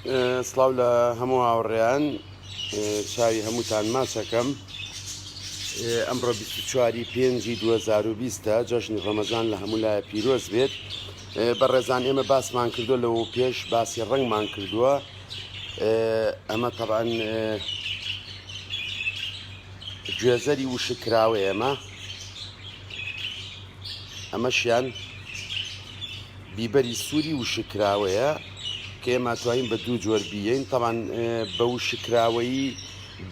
سڵاو لە هەموو هاوڕێیان چاوی هەمووتان ماچەکەم ئەمڕۆ 24 پێنجی 2020 جەژنی ڕەمەزان لە هەموو لایە پیرۆز بێت بە ڕێزان ئێمە باسمان کردو لەوە پێش باسی ڕنگمان کردووە ئەمە تەبان گوێزەری وشکراوە ئێمە ئەمەشیان بیبەری سوری وشک کراوەیە کە ئێمە ئەتوانین بە دوو جۆر بیین تەبان بە وشک کراوەیی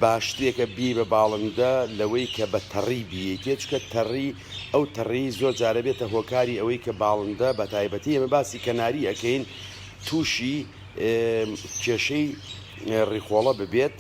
باشترێکە بی بە باڵندە لەوەی کە بە تەڕی بیەیتێ چکە تەڕی ئەو تەڕی زۆر جارە بێتە هۆکاری ئەوەی کە باڵندە بە تایبەتی ئێمە باسی کەناری ئەەکەین تووشی کێشەی ڕیخۆڵە ببێت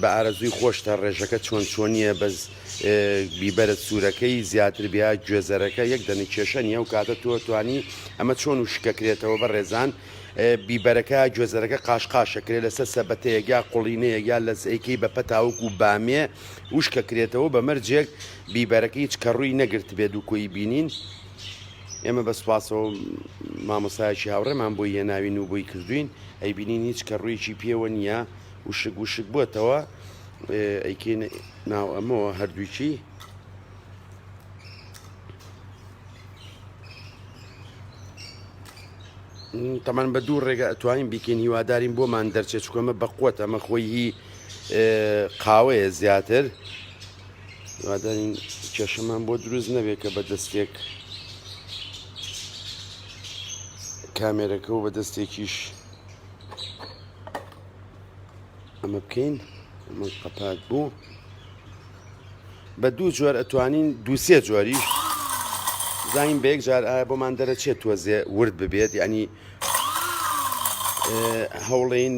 بە ئارەزووی خۆشتە ڕێژەکە چۆن چۆنیە بەس بیبەرە سورەکەی زیاتر بیا گوێزەرەکە یەک دەنک کێشە نیە و کاتە تۆ توانی ئەمە چۆن و شکەکرێتەوە بە ڕێزان بیبەرەکە گوێزەرەکە قاشقاشەکرێت لەسەر سەبەتەیەک یا قوڵینەیەک یا لەزئەیکەی بە پەتاوک و بامێ وشکەکرێتەوە بە مەرجێک بیبەرەکە هیچ کە ڕووی نەگرت بێت و کۆی بینین ئێمە بە سوپاسەوە مامۆسایکی هاوڕێمان بۆی هێناوین و بۆی کردوین ئەیبینین هیچ کە ڕوویەکی پێوە نییە وشک وشک بۆتەوە ئەیکەی ناو ئەمەوە هەردووکی تەمان بە دوو ڕێگە ئەتوانین بیکەین هیوادارین بۆمان دەرچێت چکۆمە بەقوت ئەمە خۆی هی قاوەیە زیاتر هیوادارین کێشەمان بۆ دروست نەبێت کە بە دەستێک کامێرەکە و بە دەستێکیش ئەمە بکەین ئەمە قەپات بوو بە دوو جۆر ئەتوانین دووسێ جۆری زانین بە یەک جار ئایا بۆمان دەرەچێت تۆزێ ورد ببێت یعنی هەوڵین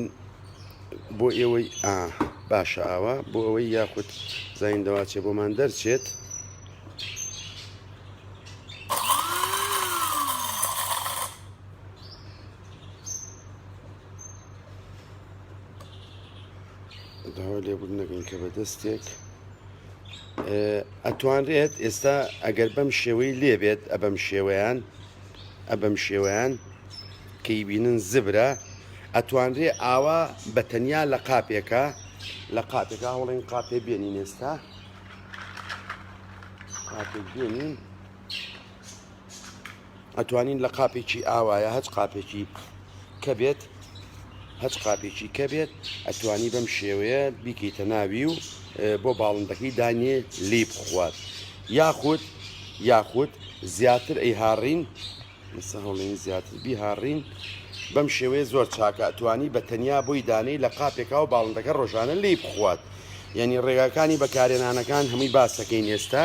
بۆ ئێوەی ئا باشە ئاوا بۆ ئەوەی یاخود زین دەواچێ بۆمان دەرچێت داوا لێبوون نەگەین کە بە دەستێک ئەتوانرێت ئێستا ئەگەر بەم شێوەی لێبێت ئەبەم شێوەیان ئەبەم شێوەیان کەی بینن زبرە ئەتوانرێ ئاوا بە تەنیا لە قاپێکە لە قاتێکا هەوڵین قاپێ بێنین ئێستا قاتێک بێنین ئەتوانین لە قاپێکی ئاوایە هەچ قاپێکی کە بێت هەچ قاپێکی کە بێت ئەتوانی بەم شێوەیە بیکەیتە ناوی و بۆ باڵندەکەی دانیێ لی بخوات یاخود یاخود زیاتر ئەی هاڕین مسە هەڵین زیاتر بیهاڕین بەم شێوەیە زۆر چاکە ئەتوانی بە تەنیا بۆی دانەی لە قاپێکا و باڵندەکە ڕۆژانە لی بخوات یعنی ڕێگاکانی بەکارێنانەکان هەمووی باسەکەین ئێستا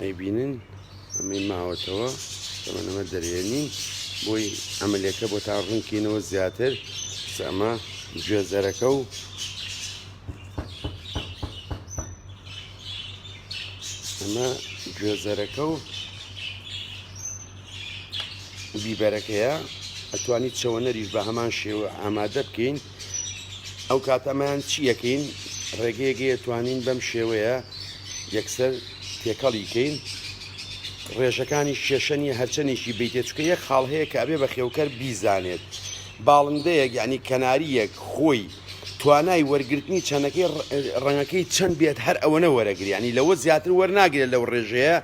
ئەیبینن ئەمەی ماوەتەوە ئەمە دەرێنین بۆی ئەمەلەکە بۆ تا ڕوونکەینەوە زیاتر ئەمە گوێزەرەکە و ئەمە گوێزەرەکە و بیبەرەکەیە ئەتوانی چەوەنەریش بە هەمان شێوە ئامادە بکەین ئەو کات ئەمەیان چی یەکەین ڕێگەیەگەیە توانین بەم شێوەیە یەکسەر تێکەڵی کەین ڕێژەکانی شێشەنی هەرچەندێکی بیتێ چکە یەک خاڵ هەیە کە ئەبێ بە خێوکەر بیزانێت باڵندەیەک یعنی کەناریەک خۆی توانای وەرگرتنی چەنەکەی ڕەنگەکەی چەند بێت هەر ئەوەنە وەرەگریانی لەوە زیاتر وەرناگرێت لەو ڕێژەیە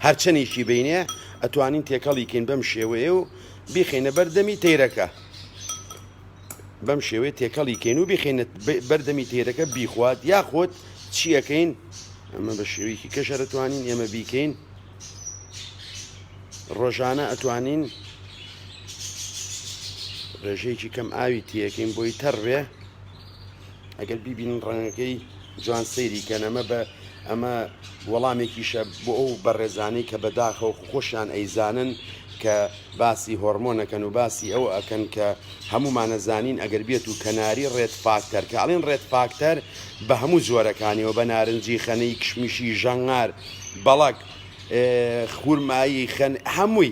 هەرچەندێکی بینێ ئەتوانین تێکەڵیکەین بەم شێوەیە و بیخینە بەردەمی تەیرەکە بەم شێوەیە تێکەڵی کەین و بخێنێت بەردەمی تێرەکە بیخوات یاخۆت چیەکەین ئەمە بە شێوەیەکی کەشە دەتوانین ئێمە بیکەین ڕۆژانە ئەتوانین ڕێژەیەکی کەم ئاوی تیەکەین بۆی تەڕێ ئەگەر بیبینن ڕەنگەکەی جوان سەیری کەن ئەمە بە ئەمە وەڵامێکیشە بۆ ئەو بەڕێزانەی کە بەداخەوە خۆشیان ئەیزانن کە باسی هۆرمۆنەکەن و باسی ئەو ئەکەن کە هەمومانە زانین ئەگەر بێت و کەناری ڕێت فاکتەر کە ئەڵین ڕێت فاکتەر بە هەموو جۆرەکانیەوە بە نارنجی خەنەی کشمیشی ژەنگار بەڵک خورمایی خەن هەمووی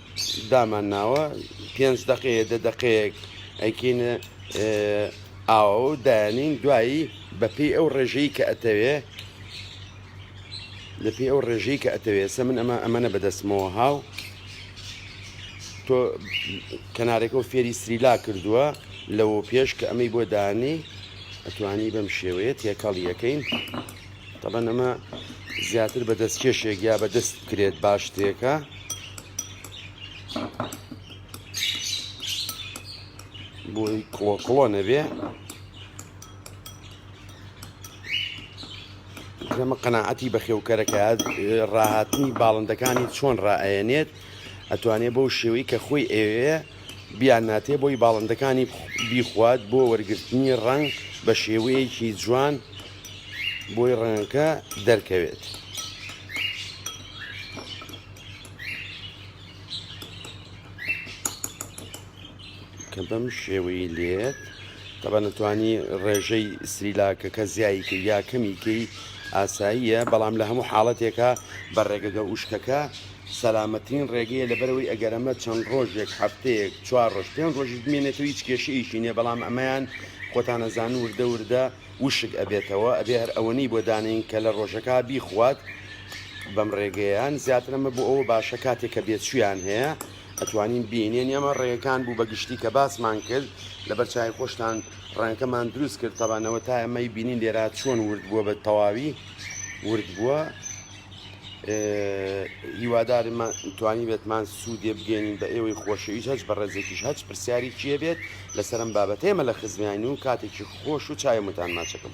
دامان ناوە پێنج دەقەیە دە دەقەیەک ئەیکەینە ئاوە و دایانین دوایی بەپی ئەو ڕێژەی کە ئەتەوێ لەپی ئەو ڕێژەی کە ئەتەوێ سە من ئەمە ئەمەە بەدەستمەوە هاو تۆ کەنارێکە و فێری سریلا کردووە لەوە پێش کە ئەمەی بۆ دانی ئەتوانی بەم شێوەیە تێکەڵیەکەین تەبەن ئەمە زیاتر بە دەست کێشێک یا بە دەست بکرێت باشتێکە بۆی کڵۆ کڵۆ نەبێ ئەمە قەنەعەتی بەخێوکەرەکە ڕاهاتنی باڵندەکانی چۆن ڕائەیەنێت ئەتوانێت بەو شێوەی کە خۆی ئەوێ بیان ناتێ بۆی باڵندەکانی بیخوات بۆ وەرگرتنی ڕەنگ بە شێوەیەکی جوان بۆی ڕەنگەکە دەرکەوێت. کە بەم شێوەی لێت تەبە نەتوانی ڕێژەی سریلاکەکە زیایی کە یا کەمیکەی ئاساییە بەڵام لە هەموو حاڵەتێکە بە ڕێگەگە وشکەکە سەلامەترین ڕێگەیە لەبەرئەوەی ئەگەر ئەمە چەند ڕۆژێک هەفتەیەک چوار ڕۆژ پێنج ڕۆژیش بمێنێتەوە هیچ کێشەیەکی نیە بەڵام ئەمەیان خۆتان ئەزانن وردە وردە وشک ئەبێتەوە ئەبێ هەر ئەوەنەی بۆ دانێین کە لە ڕۆژەکا بیخوات بەم ڕێگەیان زیاتر ئەمە بۆ ئەوە باشە کاتێک کە بێچویان هەیە ئەتوانین بینێن ئەمە ڕێیەکان بوو بە گشتی کە باسمان کرد لەبەر چای خۆشتان ڕەنگەکەمان دروست کرد تەبانەوە تا ئەمەی بینین لێرا چۆن ورد بووە بە تەواوی ورد بووە هیوادارم توانیبێتمان سوودێ بگەێنین بە ئێوەی خۆشەویست هەچ بە ڕێزێکیش هەچ پرسیاری کێ بێت لەسەرم بابەتێمە لە خزمانی و کاتێکی خۆش و چاوێ متان ماچەکەم.